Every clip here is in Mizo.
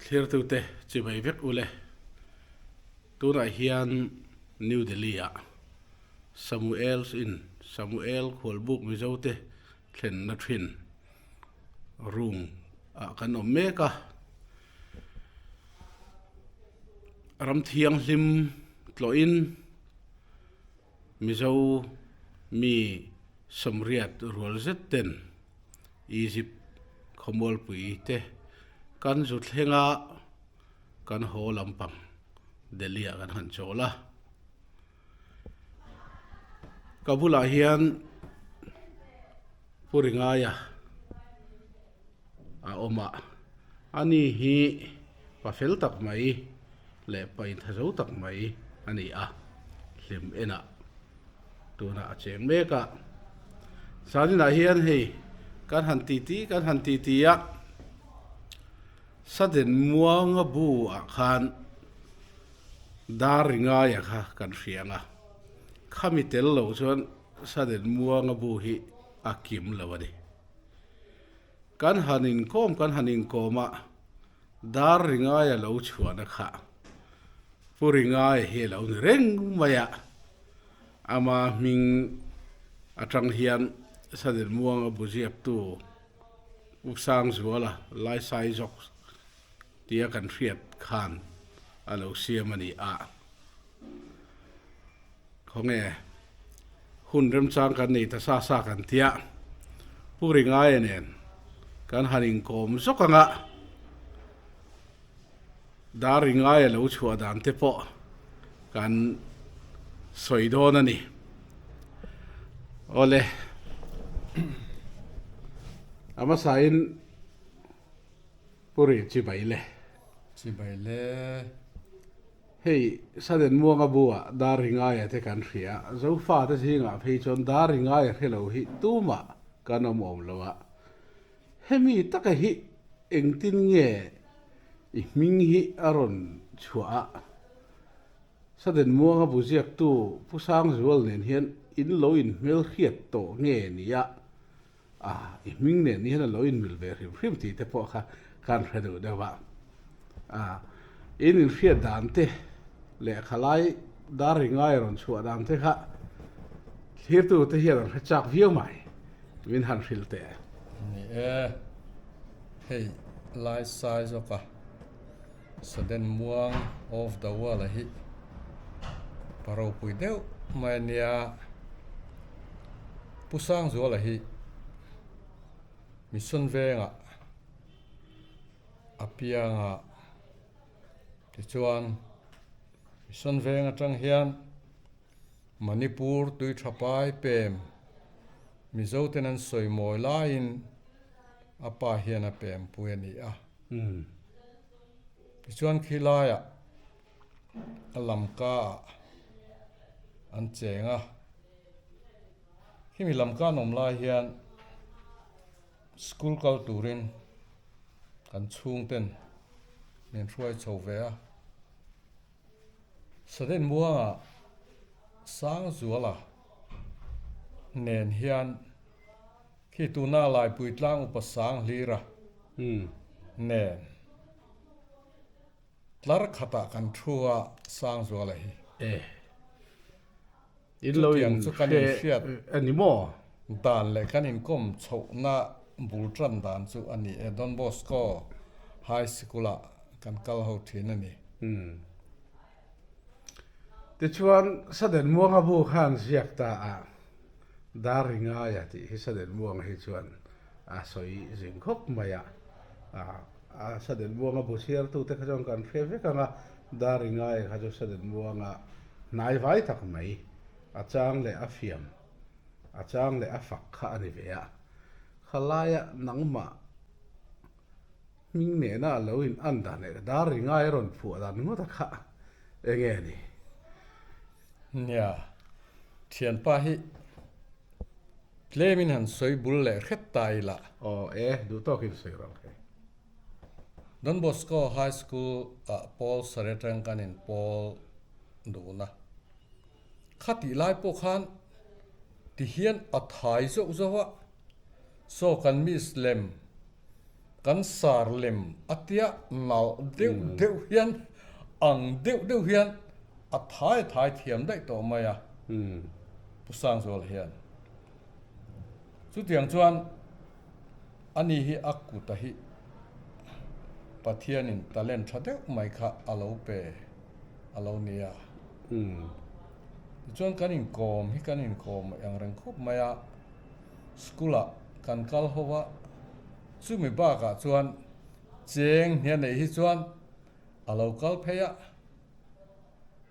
Thlertute chi mai vek u le. Tunah hian New Delhi-ah Samuel's Inn, Samuel Khualbuk Mizote thlenna thin room, ah kan awm mek a. Ram thianghlim tlawhin Mizo mi sawmriat rual zet ten Egypt khawmualpui te kan zu thleng a kan haw lampang Delhi ah kan han chawl a. ka bulah hian pu ringaia a awm a ani hi pa fel tak mai leh pa intha zo tak mai a ni a hlim enah tuna a cheng mek a saninah hian hei kan han titi kan han titi a saden muanga buah khan. Dar ringaia kha kan hriang a, khami tel lo chuan Saden Muanga bu hi a kim lo a ni. Kan han inkawm kan han inkawm a, dar ringaia lo chhuahna kha Pu Ringaia hi a lo ni reng mai a. Ama hming atang hian Saden Muanga bu ziaktu Pu Sangzuala, Laisai Zawk, Tia kan hriat khan a lo siam a ni a. Khawnge hun remchang kan nei ta sa sa kan tia Pu Ringaia nen kan han inkawm zawk ang a, Dar Ringaia lo chhuah dan te pawh kan sawi dawn a ni. Awle a hmasain. Puri chi bai le. Chi bai le. Hei Saden Muanga bu ah dar ringaia te kan hria. Zofa te zing ah phei chuan dar ringaia hre lo hi tum ah kan awm awm lo a. Hemi taka hi engtin nge i hming hi a rawn chhuah a? Saden Muanga bu ziak tu Pu Sangzual nen hian in lo in hmelhriat tawh nge nia A, i hming nen hian a lo inmil ve hrim hrim tih te pawh kha kan hre duh deuh a. A, in inhriat dan te leh khalai dar ri ngai a rawn chhuah dan te kha thirtu te hian an hre chak viau mai, min han hril teh a. Ni e, hei laisai zawk a, Saden muang off the wall a hi pa ropui deuh mai a nia. Pu Sangzual a hi mission vengah a piang a tichuan mission veng atang hian Manipur tui tha pai pem Mizo ten an sawi mawi laiin a pa hian a pem pui a ni a. Umm. Tichuan khi laia a lam ka ah an cheng a. Khi mi lam ka an awm lai hian school kal turin kan chhung ten min hruai chho ve a. Saden muanga Sangzuala Nen hian khi tuna Laipui tlang upa sang hlira nen tlar khatah kan thu a Sangzuala hi. Chutiang chu kan inhriat dan leh kan inkawm chhohna bul tan dan chu a ni e. Don Bosco High Sikula kan kal ho thin a ni. Tichuan, Saden Muanga bu khan ziak ta a dar i ngai a tih hi Saden Muanga hi chuan a sawi zing khawp mai a. A Saden Muanga bu chhiartute kha chuan kan hre vek ang a, dar i ngai kha chu Saden Muanga hnaivai tak mai, a chang leh a fiam, a chang leh a fak kha a ni ve a. Khalaia nangmah. Hming nena a lo in an dan leh dar ri ngai a rawn phuah dan ngawt a khah enge a ni? Nia, thianpa hi tlemin han sawi bul leh hret ta i la. Aw e, duh tawk in sawi rang he. Don Bosco High School ah Paul Sare tang kan in pawl dun a, kha tih lai pawh khan tihian a thai zauh zauh a, so kan miss lem Kan sar lem a tia nalh deuh deuh hian ang deuh deuh hian a thai thai thiam daih tawh mai a Pu Sangzual hian. Chutiang chuan ani hi a kut a hi Pathianin talent tha deuh mai kha a lo pe a lo ni a. Tichuan kan inkawm hi kan inkawm eng reng khawp mai a. School-ah kan kal ho a, chumi bakah chuan Cheng hnia neih hi chuan a lo kal phei a.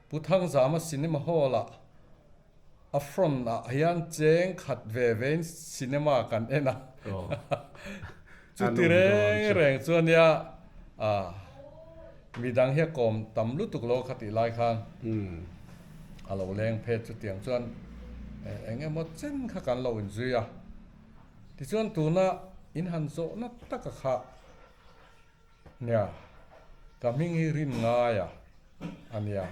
Pu Thangzama Cinema Hall-ah a front-ah hian cheng khat ve vein cinema kan en a. Chu ti reng reng chuan nia ah mi dang hian kawm tam lutuk lo kha tih lai khan a lo leng phet chutiang chuan eng emaw chen kha kan lo in zui a tichuan tuna in han zawh na taka kha nia ka hming hi rin ngai a ania.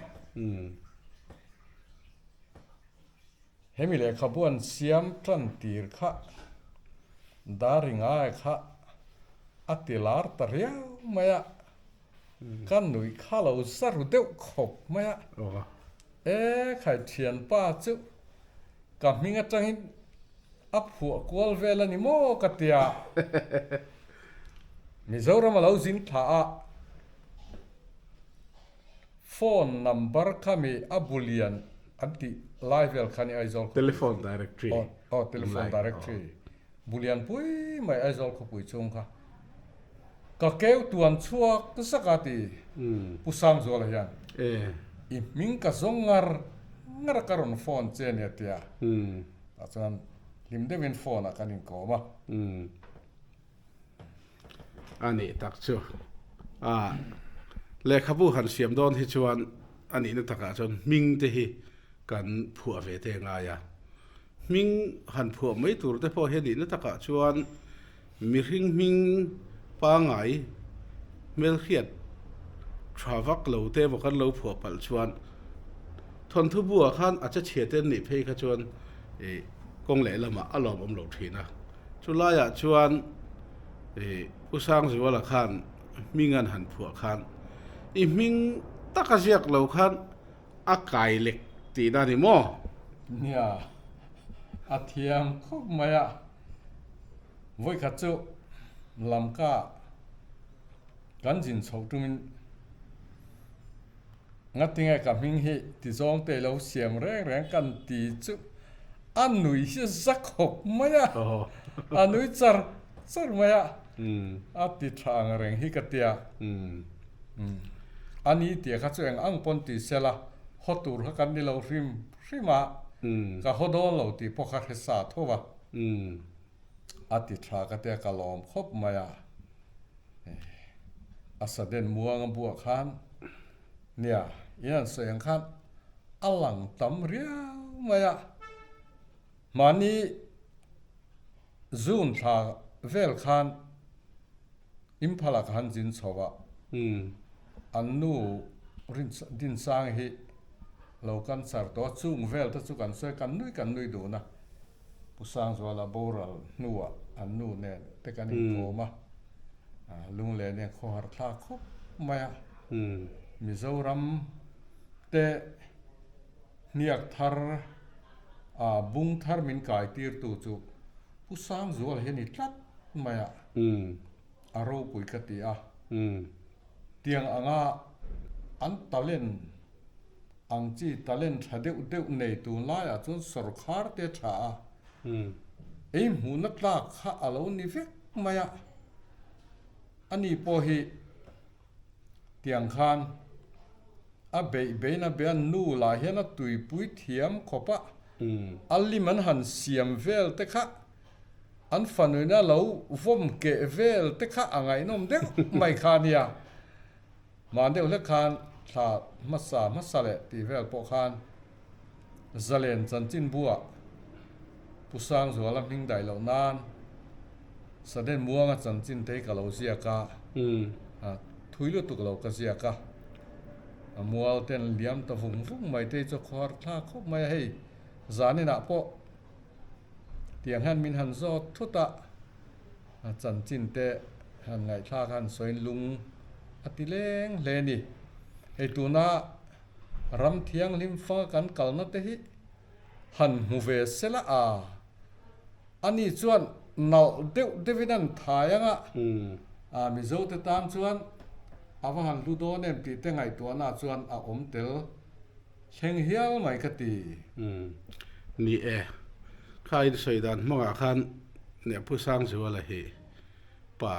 Hemi lehkhabuan siam tan tir kha Daringae kha a ti lar ta riau mai a, ka nuih kha lo za ru deuh khawp mai a. E khai thianpa chu ka hming atangin a phuah kual vel a ni maw ka tia Mizoram a lo zin thla a. Phone number kha mi a bu lian an tih lai vel kha ni Aizawl khawpui chu Telephone directory aw telephone directory bu lian pui mai Aizawl khawpui chhung kha ka keu tuan chhuak zak a ti Pu Sangzuala hian i hming ka zawng ngar ngar a ka rawn phone che nia a tia tah chuan hlim deuhin phone ah kan inkawm a. A nih tak chu. Aah. Lehkhabu han siam dawn hi chuan a nihna takah chuan hming te hi kan phuah ve te ngai a. Hming han phuah mai tur te pawh hi a nihna takah chuan mihring hming pangai hmel hriat tha vak lo te emaw kan lo phuah palh chuan Thawnthubu ah khan a che chhiate an nih phei kha chuan ih kawng leh lamah a lawmawm lo thin a. Chu laiah chuan U Sangzuala khan hming an han phuah khan, I hming taka ziak lo khan a kai lek tih na ni maw? Nia, a thiam khawp mai a. Vawikhat chu lamka ah kan zin chhoh tum in. ngatinge ka hming hi tizawng te lo siam reng reng kan ti chuh a nui hi za khawp mai a a nui char char mai a a ti tha ang reng hi ka tia a ni tia kha chu eng ang pawn ti sel a haw tur kha kan ni lo hrim hrim a ka haw dawn lo tih pawh kha hre sa tho va. a ti thla ka tia ka lawm khawp mai a, a saden muang a buah khan nia in an sawi ang khan a lang tam riau mai a, mahni June thla vel khan Imphala ka han zin chho a, an nu Dinsang hi lo kan char tawh a, chung vel te chu kan sawi kan nui kan nui dun a. Pu Sangzuala boral hnua an nu nen te kan inkawm a, Lunglena hian khaw har thla khawp mai a, Mizoram te hniak thar a bung thar min kai tir tu chu Pu Sangzuala hi a ni tlat mai a, a ropui ka ti a, tiang anga an talent Ang chi talent tha deuh deuh nei tun laiah chuan sorkar te tha a ei hmuhna tlak kha a lo ni vek mai a, a ni pawh hi tiang khan a beih beih na bia nu lah hian a tuipui thiam khawp a, a lim an han siam vel te kha an fanuina lo vawm keh vel te kha a ngaihnawm deuh mai kha a nia. Hma deuh hlek khan thla hmasa hmasa leh tih vel pawh khan Zalen chanchinbua Pu Sangzuala hming daih loh nan Saden Muanga chanchin te hi ka lo ziak a, thui lutuk lo ka ziak a, mual ten liam ta vung vung mai te hi chu khaw har thla khawp mai a, hei zanin ah pawh tiang hian min han zawt thut a. A chanchin te han ngaihthlak a han sawiin lung a ti leng hle ni. Hei tuna ram thianghlim fanga kan kalna te hi han hmu ve sela a, ani chuan nalh deuh deuhin an thai anga Mizote tan chuan a va han hlu dawn em tih te ngaihtuahna chuan a awm tel Thleng hial mai ka ti. Umm. Ni e. Kha in sawi dan hmangah khan Nehphu Sangzua la hi pa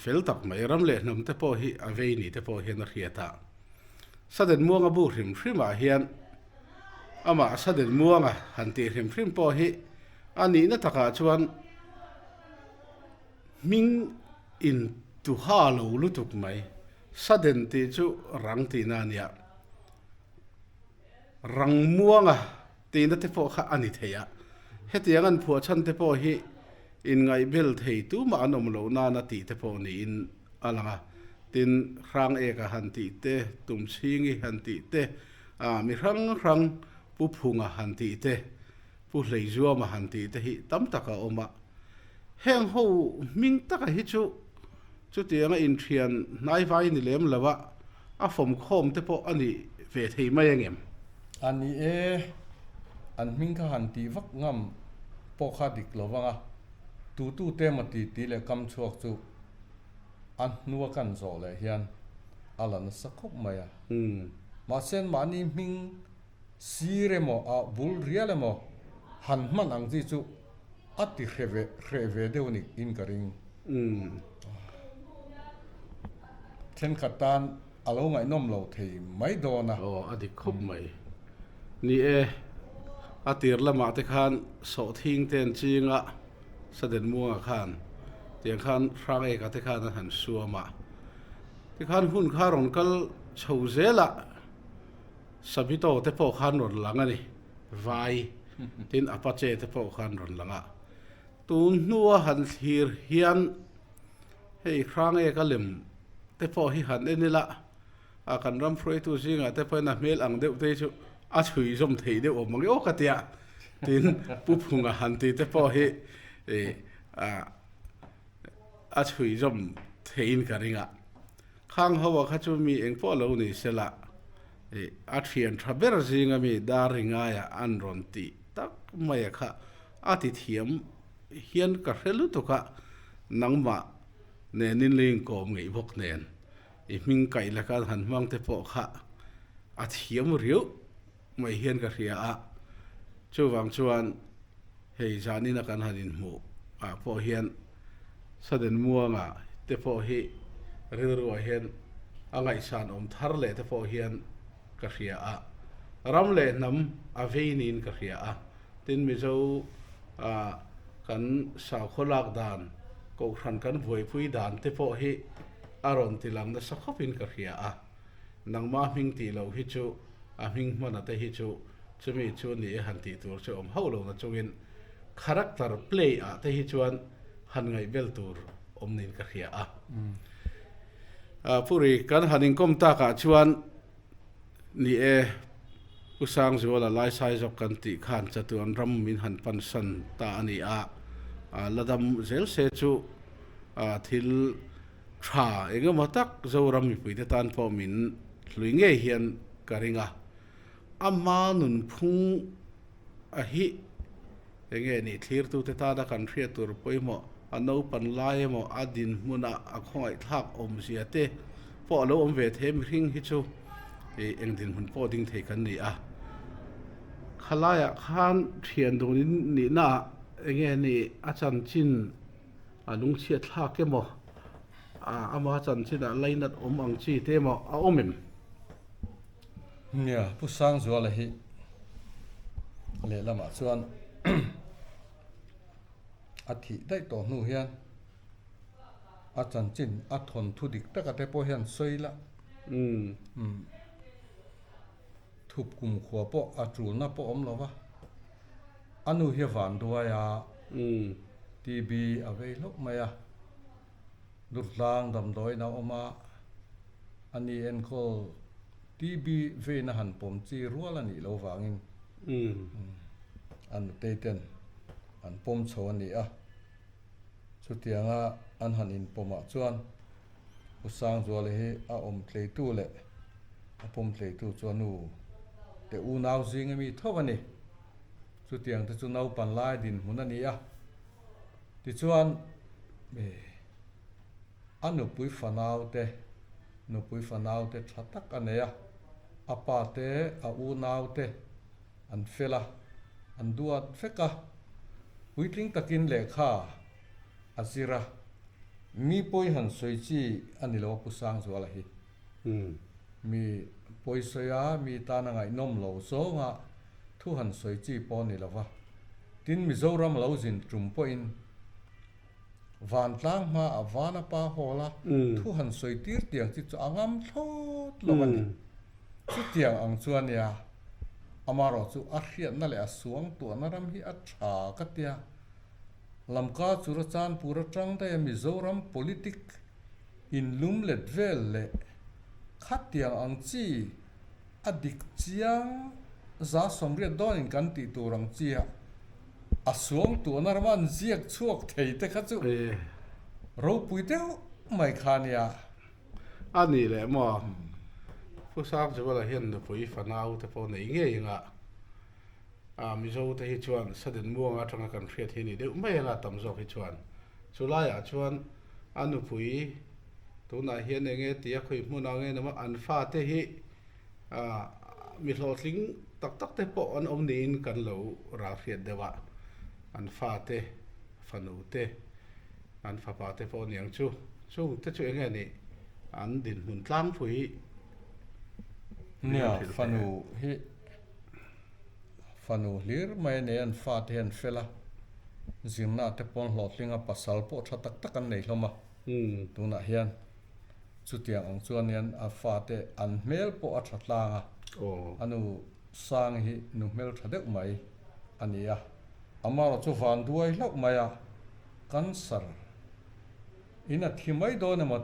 fel tak mai a, ram leh hnam te pawh hi a vei ni te pawh hian a hriat a. Saden muang a bu hrim hrim ah hian amah saden muang a han tih hrim hrim pawh hi a nihna tak ah chuan hming in tuha lo lutuk mai. Sudden tih chu rang tihna a ni a, rangmuanga tihna te pawh kha a ni thei a. Hetiang an phuah chhan te pawh hi inngaihbel thei tumah an awm loh nana tih te pawh niin a lang a. Tin, hrang ek a han tih te, tum chhingi han tih te, mi hrang hrang pu phunga han tih te, Pu Hleizuama han tih te hi tam tak a awm a, heng ho hming taka hi chu chutiang a inthian hnaivai ni lem lo a, a fawmkhawm te pawh a nih ve thei mai ang em? A ni e, an hming kha han tih vak ngam pawh kha dik lo vang a, tutu te emaw titi leh kam chhuak chu a hnua kan zawh leh hian a la nasa khawp mai a, mahse mahni hming sir emaw ah bul rial emaw han hman ang chi chu a ti hre ve hre ve deuh ni in ka ring. Thenkhat tan a lo ngaihnawm lo thei mai dawn a. Aw a dik khawp mai ni e. A tir lamah te khan sawhthing ten chinga Saden Muanga khan tiang khan Hrangeka te khan an han suam a. Tikhan hun kha rawn kal chho zel a. Savito te pawh khan rawn lang a ni, vai, tin Apache te pawh khan rawn lang a. Tun hnua han thlir hian hei Hrangeka lem te pawh hi han en ila, a kan ram hruaitu zingah te pawhin a hmel ang deuh te hi chu a chhuizawm theih deuh awm ang emaw ka ti a, tin Pu Phunga han ti te pawh hi a chhuizawm theihin ka ring a. Khang ho a kha chu mi eng pawh lo ni se lah ih a thian tha ber zing a mi dar ri ngai ah an rawn ti tak mai a kha a ti thiam hian ka hre lutuk a nangmah nen in ling kawm ngei bawk nen i hming kaih laka han hmang te pawh kha a thiam riauh. Ngawih hian ka hria a, chuvang chuan hei zan ina kan han inhmuh ah pawh hian Saden Muanga te pawh hi rilruah hian a ngaihsan awm thar leh te pawh hian ka hria a, ram leh hnam a vei niin ka hria a, tin Mizo ah kan sakhaw lak dan, kohhran kan buaipui dan te pawh hi a rawn tilang nasa khawpin ka hria a. Nangma hming tih loh hi chu a hming hmana te hi chu chumi chu a ni e han tih tur chu awm hauh lo na chungin character play ah te hi chuan han ngaih bel tur awm niin ka hria a. A Puri kan han inkawm tak ah chuan ni e Pu Sangzual a laisai zawk kan tih khan chatu an ram min han pansan ta a ni a, la dam zel se chu thil Tha engemaw tak Zoram mipuite tan pawh min hlui ngei hian ka ring a, a hma nunphung a hi enge nih thlirtute tana kan hriat tur pawimawh a naupan lai emaw a dinhmuna a khawngaihthlak awmzia te pawh a lo awm ve the mihring hi chu ih eng dinhmun pawh ding thei kan ni a. Khalaiah khan thian dunin nihnaah enge nih a chanchin a lung chhiat thlak em aw, a ama chanchinah lainat awm ang chi te emaw a awm em? Nia, Pu Sangzuala hi lehlamah chuan a thih daih tawh hnu hian a chanchin a thawnthu dik taka te pawh hian sawi la. Umm. Thup kum khua pawh a tulna pawh awm lo va, a nu hi a van duai a, TB a vei hlauh mai a, durtlang damdawiin a awm a, a ni enkawl TB veina han pawm chi rual a nih loh vangin a nutei ten an pawm chho a ni a. Chutianga an han inpawmah chuan U Sangzuala hi a awm tleitu leh a pawm tleitu chu a nu te unau zing a mi tho a ni. Chutiang te chu naupan lai dinhmun a ni a. Tichuan, a nupui fanau te, nupui fanau te tha tak a nei a, a pa te, a unau te, an fel a, an duat fek a, puitling takin lehkha a zir a, mi pawi han sawi chi a ni lo a Pu Sangzuala hi. Mi pawi sawi a, mi tana ngaihnawm lo zawnga thu han sawi chi pawh a ni lo va, tin Mizoram lo zin tum pawhin, Vantlang hma ah van a pa hawl a, thu han sawi tir tiang chi chu a ngam thlawt lo a ni. Chutiang ang chuan nia, amarawh chu a hriatna leh a suang tuahna ram hi a tha ka tia. Lamka chu Rachanpur atang daih a Mizoram politics in lum let vel leh khat tiang ang chi, a dik chiang za sawmriat dawnin kan tih tur ang chia a suang tuahna rama an ziak chhuak thei te kha chu ropui deuh mai kha nia. A nih leh maw? Pu Sangchivala hian nupui fanau te pawh nei ngei anga A, Mizo te hi chuan Saden Muanga atanga kan hriat hi a nih deuh mai a la tam zawk hi chuan chu laiah chuan a nupui tunah hian eng nge tia khawih hmun ang em a an fa te hi a mi hlawhtling tak tak te pawh an awm niin kan lo ral hriat deuh a, an fa te, fanu te, an fapa te pawh aniang chu chung te chu eng nge nih an dinhmun tlangpui hi an hrilh hle a. Fanu hlir mai a nei an fa te hian fel a, zirna te pawn hlawhtling a, pasal pawh tha tak tak an nei hlawm a, tunah hian chutiang ang chuan hian a fa te an hmel pawh a tha tlang a, a nu Sang hi nu hmel tha deuh mai a ni a. Amarawh chu van duai hlauh mai a, cancer in a thi mai dawn emaw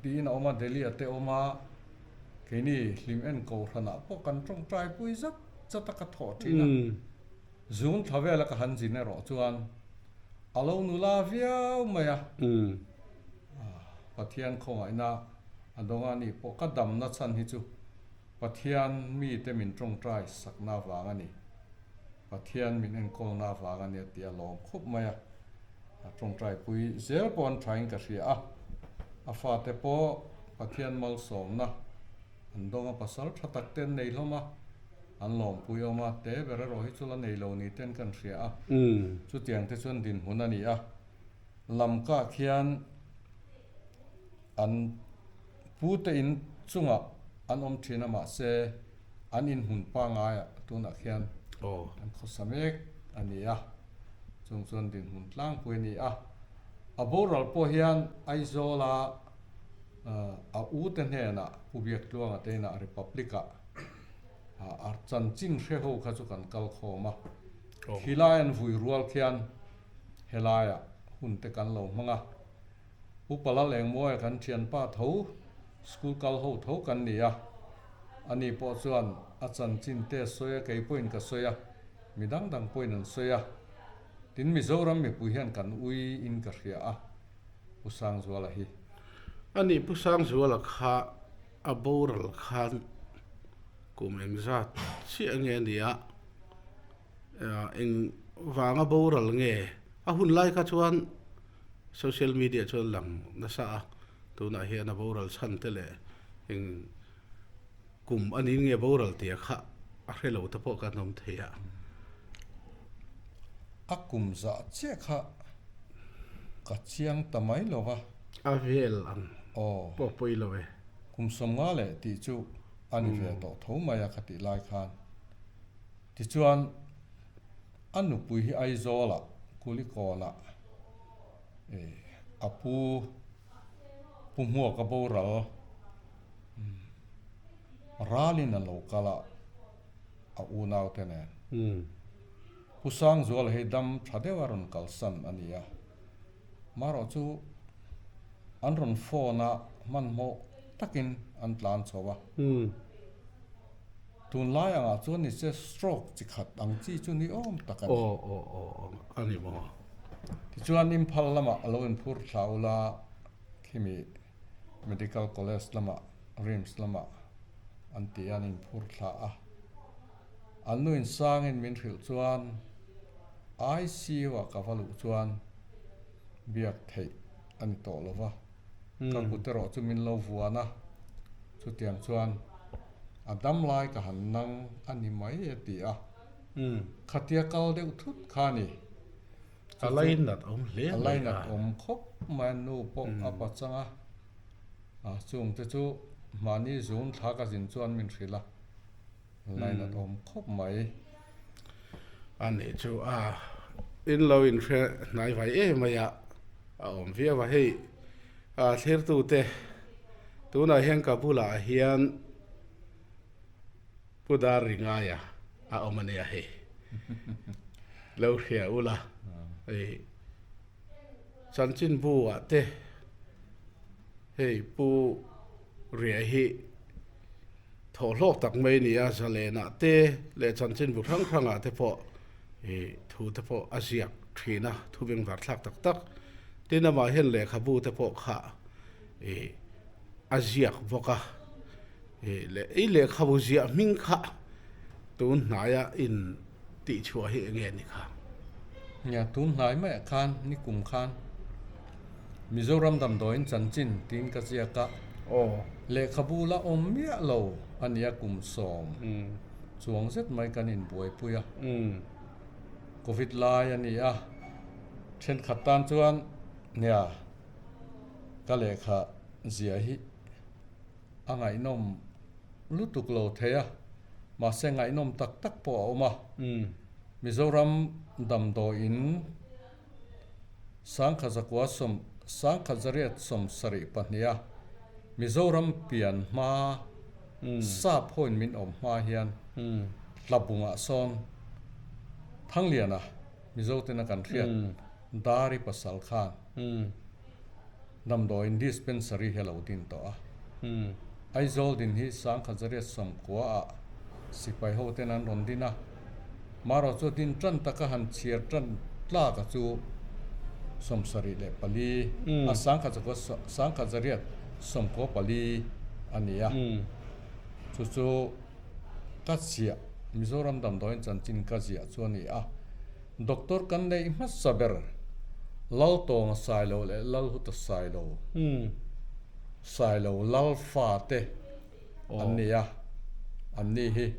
tiin a awm a, Delhi a te awm a, Keini hlim en ko hranah pawh kan tawngtai pui zat zat a ka thawh thin a. Zun tha vela ka han zin erawh chuan a lo nu la viau mai a. Pathian khawngaihna a dawnga ni pawh ka damna chhan hi chu Pathian mite min tawngtai sakna vang a ni. Pathian min enkawlna avang a nia tih a lawm khup mai a. A tawngtaipui zel pawh an thain ka hria a. A fate pawh Pathian malsawmna an dawng a, pasal tha takte an nei hlawm a, an lawmpui awm a, te ber erawh hi chu la nei lo ni te an kan hria a. Chutiang te chuan dinhmun a ni a, lamkah khian. an pute in chungah an awm thin a mahse an inhmun pangaiah tunah khian an khawsa mek a ni a, chung chuan dinhmun tlangpui a ni a. A boral pawh hian Aizawla a u te hnenah Pu Biaktluanga te inah Republic a chanchin hre ho kha chu kan kal khawm a, khilai an vui rual khian helaiah hunte kan lo hmang a. U Pala leng muai kan thian pah tho, school kal ho tho kan ni a, ani pawh chuan a chanchin te a sawi a, kei pawhin ka sawi a, mi dang dang pawhin an sawi a, tin Mizoram mipui hian kan ui in ka hria a, Pu Sangzuala hi. Ani Pu Sangzuala kha a boral khan kum engzat chiah nge nia? engvanga boral nge? A hun lai kha chuan social media chuan lang nasa a, tunah hian a boral chhan te leh eng kum a nih nge boral tia kha a hre lo te pawh ka hnawm thei a. A kum zah chiah kha ka chiang ta mai lo va. A vel ang pawh pawi lo e. Kum sawmnga leh tih chu a ni ve tawh tho mai a ka tih lai khan. Tichuan, a nupui hi Aizawla Kulikawn-a a pu Pu Hmuaka boral ralin an lo kal a, a unaute nen. Pu Sangzuala hi dam tha deuha rawn kalsan a ni a, mahrau chu an rawn phone-a hmanhmawh takin an tlan chho a. Tunlai angah chuan ni che stroke chi khat ang chi chu ni awm tak a ni. Aw aw aw aw a ni maw? Tichuan Imphal lamah a lo in phur thla ula khimi Medical College lamah, Rims lamah an ti an in phur thla a. An nu in sang in min hrilh chuan ICU-ah ka va luh chuan biak theih a ni tawh lo va. ka buterawh chu min lo vuan a, chutiang chuan a dam lai ka han nang a ni mai a ti a, khatia kal deuh thut kha ni. A lainat awm hle mai a. A lainat awm khawp mai a, nu pawh a pachang a, a chungte chu mahni zun thla ka zin chuan min hrilh a. line a awm khawp mai a nih chu a in lo in hriat hnai vai em mai a a awm viau a hei a thlir tu te tunah hian ka bulah hian pu dar ri ngai a a awm a nia hei lo hria ula hei. chanchinbu ah te hei pu riai hi thawh hlawk tak mai a ni a, zalen ah te leh chanchinbu hrang hrang ah te pawh ih thu te pawh a ziak thin a, thu veng var thlak tak tak, tin amah hian lehkhabu te pawh khah ih a ziak bawk a, ih leh i lehkhabu ziah hming kha tun hnaia in tih chhuah hi enge ni kha? Nia, tun hnai maiah khan ni kum khan Mizoram damdawiin chanchin tiin ka ziak a, lehkhabu la awm miah lo a nia kum sawm chuang zet mai kan in buaipui a, Covid lai a ni a, thenkhat tan chuan nia. Ka lehkha zia hi a ngaihnawm lutuk lo thei a, mahse ngaihnawm tak tak pawh a awm a. Mizoram damdawi in Sangkhat Zakua Sawm, Sangkhat Zariat Sawm sarih pahnih a Mizoram pian hma saphawiin min awm hma hian Hlabunga sawn Thangliana, Mizoten a kan hriat Dari pasal khan damdawiin Dispensary hi a lo din tawh a. Aizawl din hi Sangkhat Zariat Sawmkua ah sipai ho ten an rawn din a. Marawh chu din tan tak a han chhiar tan tlak a chu Sawmsarih leh pali a Sangkhat Zariat Sawmkua pali a ni a. Chu chu. ka ziah Mizoram damdawiin chanchin ka ziah chu a ni a, doctor kan neih hmasa ber Laltawnga Sailo leh Lalhuta Sailo, Sailo Lalfa te an ni a, an ni hi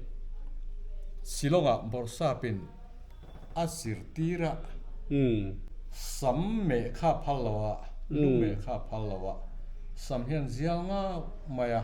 Shillongah Borsapin a zirtira sam meh kha phal loa, lu meh kha phal loa sam hian zial ngau mai a.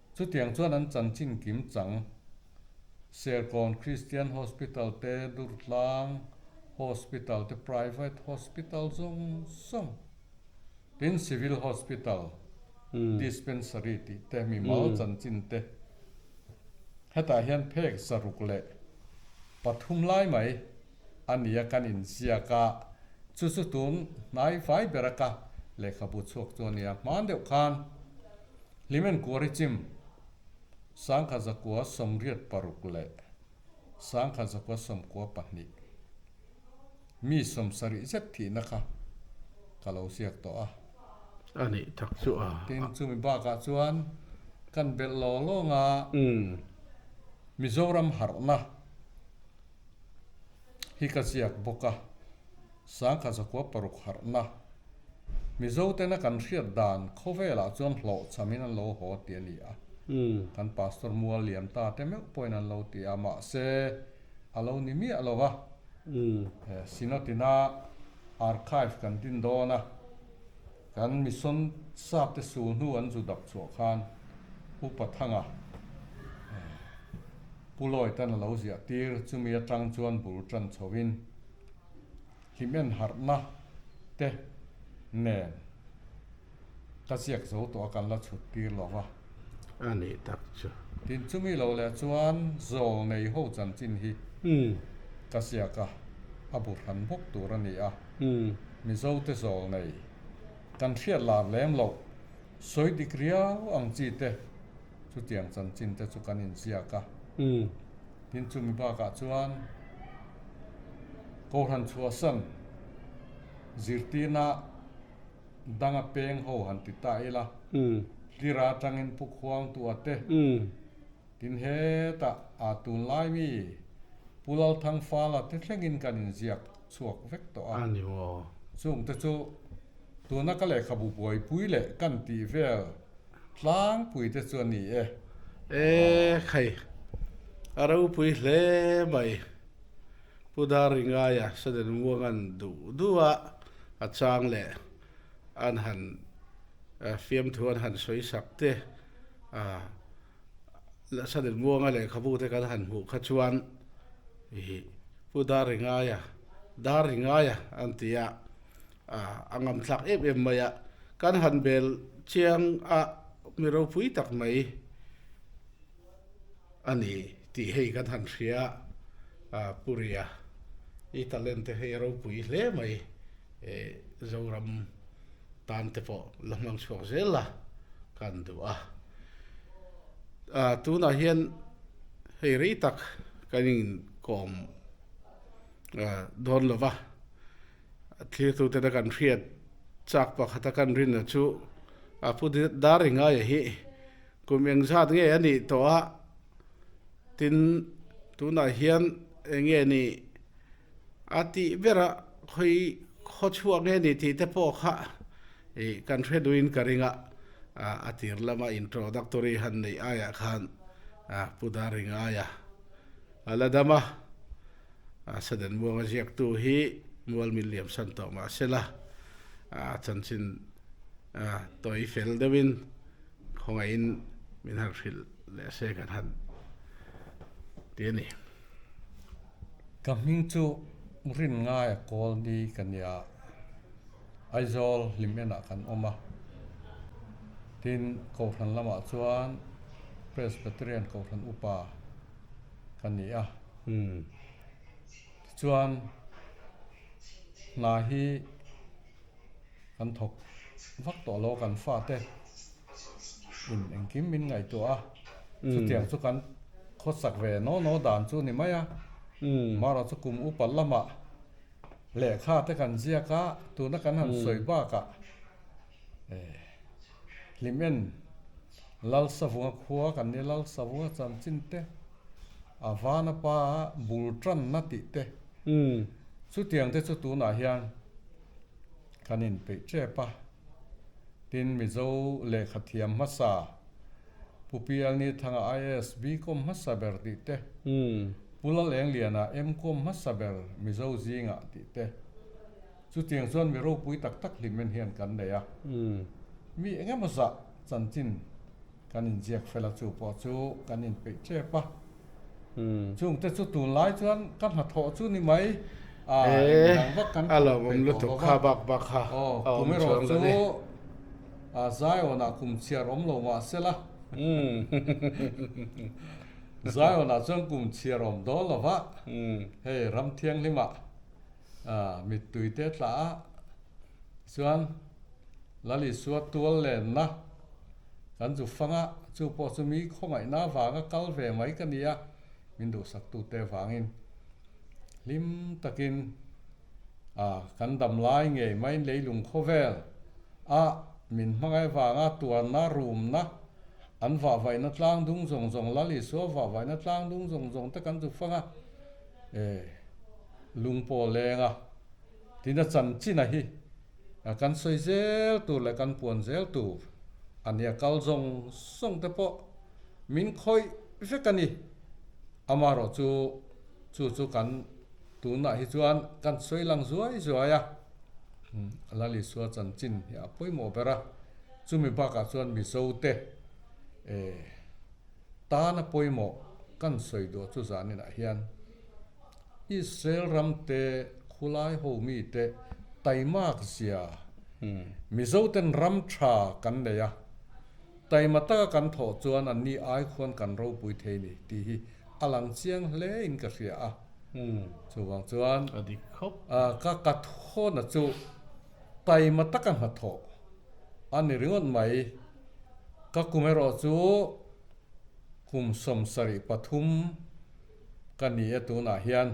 Chutiang chuan an chanchin kim chang Serkawn Christian Hospital te, Durtlang Hospital te, Private Hospital zawng zawng tin Civil Hospital, Dispensary tih te mimal chanchin te hetah hian phek zaruk leh pathum lai mai a nia kan inziak a, chu chu tun hnaifai bera ka lehkhabu chhuak chu a nia. Hmang deuh khan. Hlimen kuar i chim. Sangkhat zakua sawmriat paruk leh sangkhat zakua sawmkua pahnih mi sawm sarih zet thihna kha ka lo ziak tawh a. A nih tak chu a. Tin, chumi bakah chuan kan belh lawng lawng a, Mizoram harhna hi ka ziak bawk a. Sangha Zakua paruk harhna Mizo tena kan hriat dan khawvelah chuan hlawhchamin an lo haw tih a ni a, kan Pastor Mualliamta te meuh pawhin an lo ti a, mahse a lo ni miah lo va, he Sinatina Archive kan din dawn a, kan Mission sapte sul hnu an zu dap chhuah khan U Pathanga Pu Lawita-n a lo ziah tir, chumi atang chuan bul tan chhoin Hlimmen harhna te nen ka ziak zo tawh a kan la chhut tir lo va. A nih tak chu. Tin chumi lo leh chuan zawl nei ho chanchin hi ka ziak a a bu hran bawk tur a ni a. Mizo te zawl nei kan hriat lar lem loh sawi dik riau ang chi te. chutiang chanchin te chu kan inziak a, tin chumi bakah chuan Kohhran chhuahsan zirtirna danga peng ho han ti ta ila, tlira tangin pukhuang tu a te, tin hetah aa tun lai mi Pu Lalthang Fala te thlengin kan inziak chhuak vek tawh a, chungte chu tuna ka lehkhabu buaipui leh kan tih vel, Tlangpui te chu a ni e. E khai a ropui hle mai. Pu Dar Ringaia Saden Muangan duh duh a a chang leh an han fiamthu an han sawi sak te a la Saden Muanga lehkhabu te kan han hmuh kha chuan Pu Dar Ringaia Dar Ringaia an ti a. A ngam thlak em em mai a, kan han bel chiang a mi ropui tak mai a ni tih hei kan han hria a, Puria i talent te hei a ropui hle mai e, Zoram tan te pawh la hmang chhuak zel la kan duh a, a tunah hian hei rei tak kan inkawm dawn lova. Thliktute te kan hriat chak pakhata kan rinna chu a pu dar i ngaia hi kum eng zat nge a nih tawh a, tin tunah hian eng nge ni a tih bera khawi khaw chhuak nge ni tih te pawh kha kan hre duin ka ring a, a tir lama introductory han neih aiah khan a pu dar i ngaia a la dam a. a saden muanga ziaktu hi mual min liamsan tawh mah sela chanchin tawi fel deuhin khawngaihin min han hrilh leh se kan han ti a ni. Ka hming chu Rinngaya Kawlni ka nia, Aizawl hlim enah kan awm a, tin Kohhran lamah chuan Presbyterian Kohhran upa, ka ni a. Umm. Tichuan hna hi kan thawk vak tawh lo kan fate in engkim min ngaihtuah a, chutiang chu kan khawsak ve no no dan chu ni mai a. Mahra chu kum upat lamah lehkha te kan ziak a, tuna kan han sawi bakah hlim en. Lalsavunga khua kan nih Lalsavunga chanchin te, a vana pa bul tanna tih te chutiang te chu tunah hian kan in peih tep a. Tin Mizo lehkha thiam hmasa Pu Pialnithanga IAS Bcom hmasa ber tih te, Pu Lal Engliana Mcom hmasa ber Mizo zingah tih te, Chutiang chuan mi ropui tak tak hlim en hian kan nei a, mi eng emaw zah chanchin kan inziak fel a chu pawh chu kan inpeih tep a, chungte chu tunlai chuan ka hnathawh chu ni mai a inang vak kan thawh peih tawh lo va, aw kum erawh chu Zion-ah kum chhiar awm lo mah se la Zion-ah chuan kum chhiar awm dawn lo va, hei ram thianghlimah. mittui te tla a chuan Lali suat tual lenna kan zu fang a, chu pawh chu mi khawngaihna vanga kal ve mai ka nia min duhsak tu te vangin hlim takin kan dam lai ngei mai leilung khawvel a min hmangaih vanga tuanna rumna an vahvaihna tlang dungzawng zawng Lali suat vahvaihna tlang dungzawng zawng te kan zu fang a. E, lung pawh leng a, tina chan chin a hi a kan sawi zel tur leh kan puan zel tur a nia, kal zawng zawng te pawh min khawih vek a ni, amarawh chu chu chu kan tunah hi chuan kan sawi lang zuai zuai a, Lalisua chanchin hi a pawimawh ber a, chumi bakah chuan Mizote e, Tan a pawimawh kan sawi duh chu zaninah hian Israel ram te, khulai ho mi te, taimak zia Mizo ten ram tha kan nei a, taima taka kan thawh chuan an ni ai khuan kan ropui thei ni tih hi a lang chiang hle in ka hria a. Chuvang chuan ka ka thawn a chu taima taka hnathawh a ni ringawt mai. Ka kum erawh chu kum sawm sarih pathum ka ni e tunah hian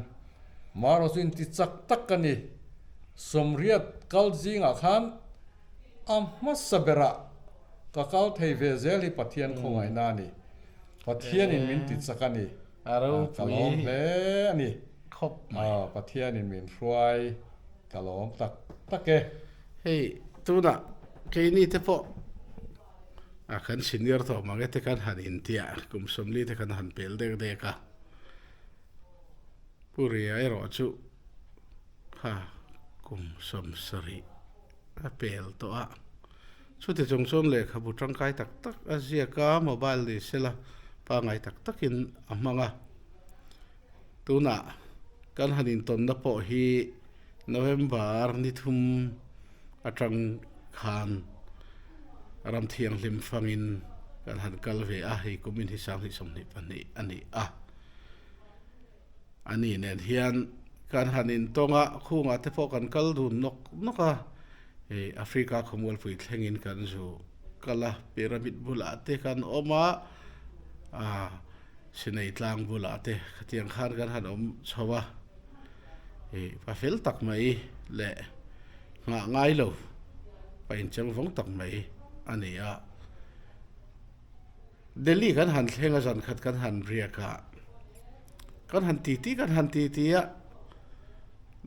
marawh chu intichak tak ka ni. Sawmriat kal zingah khan a hmasa berah ka kal thei ve zel hi Pathian khawngaihna a ni. Pathianin min tichak a ni. Ka lawm hle a ni. Pathianin min hruai. Ka lawm tak tak e. Hei tunah keini te pawh a kan senior tawh mange te kan han intia kum sawmli te kan han pel dek dek a. Pu Ria erawh chu kha kum sawm sarih a pel tawh a. Chuti chung chuan lehkhabu tangkai tak tak a ziak a, mobile ni sela pangngai tak takin a hmang a. Tunah, kan han intawnna pawh hi November ni thum a tang khan ram thianghlim fangin kan han kal ve a, hei kum inhi sang hnih sawmhnih pahnih a ni a. Ani nen hian kan han intawng a, khungah te pawh kan kal dun nawk nawk a, hei Africa khawmual pui thlengin kan zu kal a, pyramid bulah te kan awm a, Aa sinei tlang bulah te khatiang khan kan han awm chho a, ih pa fel tak mai leh nghah ngai lo pa inchang vawng tak mai a ni a. Delhi kan han thleng a zan khat kan han riak a, kan han titi kan han titi a,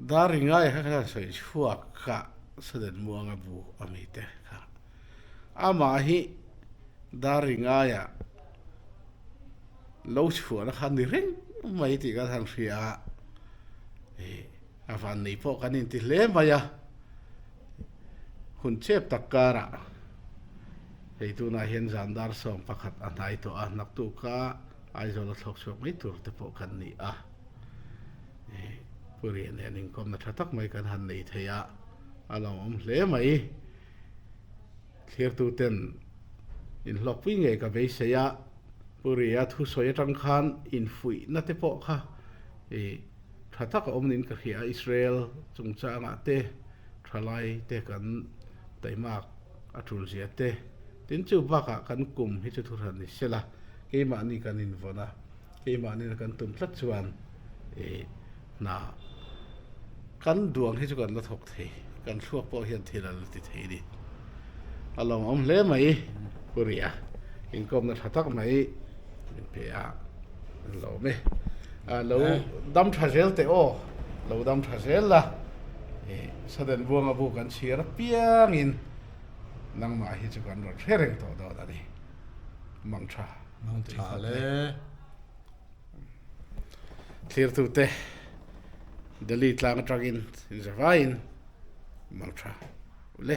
dar ringaia kha kan han sawi chhuak kha saden muanga bu a mi te kha. Amah hi dar ringai ah lo chhuahna kha ni reng mai tih kan han hria a, a van nei pawh kan inti hle mai a. Hun chep tak kar ah hei tun ah hian zan dar sawm pakhat a hnai tawh a, naktu kha Aizawl a thlawk chhuak mai tur te pawh kan ni a. Purian hian inkawmna tha tak mai kan han nei thei a, a lo awm hle mai. Thirtuten inhlawkpui ngei ka beisei a, Puria thu sawi atang khan infuihna te pawh kha i tha taka awm niin ka hria a, Israel chungchangah te thalai te kan taimak a tul zia te tin chu bakah kan kum hi chu thuhran ni sela keimahni kan invawn a. Keimahnin a kan tum tlat chuan i hna kan duang hi chu kan la thawk thei, kan thluak pawh hian thil an la ti thei ni. A lawmawm hle mai Pu Ria, inkawmna tha tak mai min pe a, an lawm e. A lo dam tha zel teh aw, lo dam tha zel la, i saden buanga bu kan chhir apiangin nangmah hi chu kan rawn hre reng tawh dawn a ni, mang tha. Hmang tha le thlirtute Delhi tlang atangin inza vaiin hmang tha le.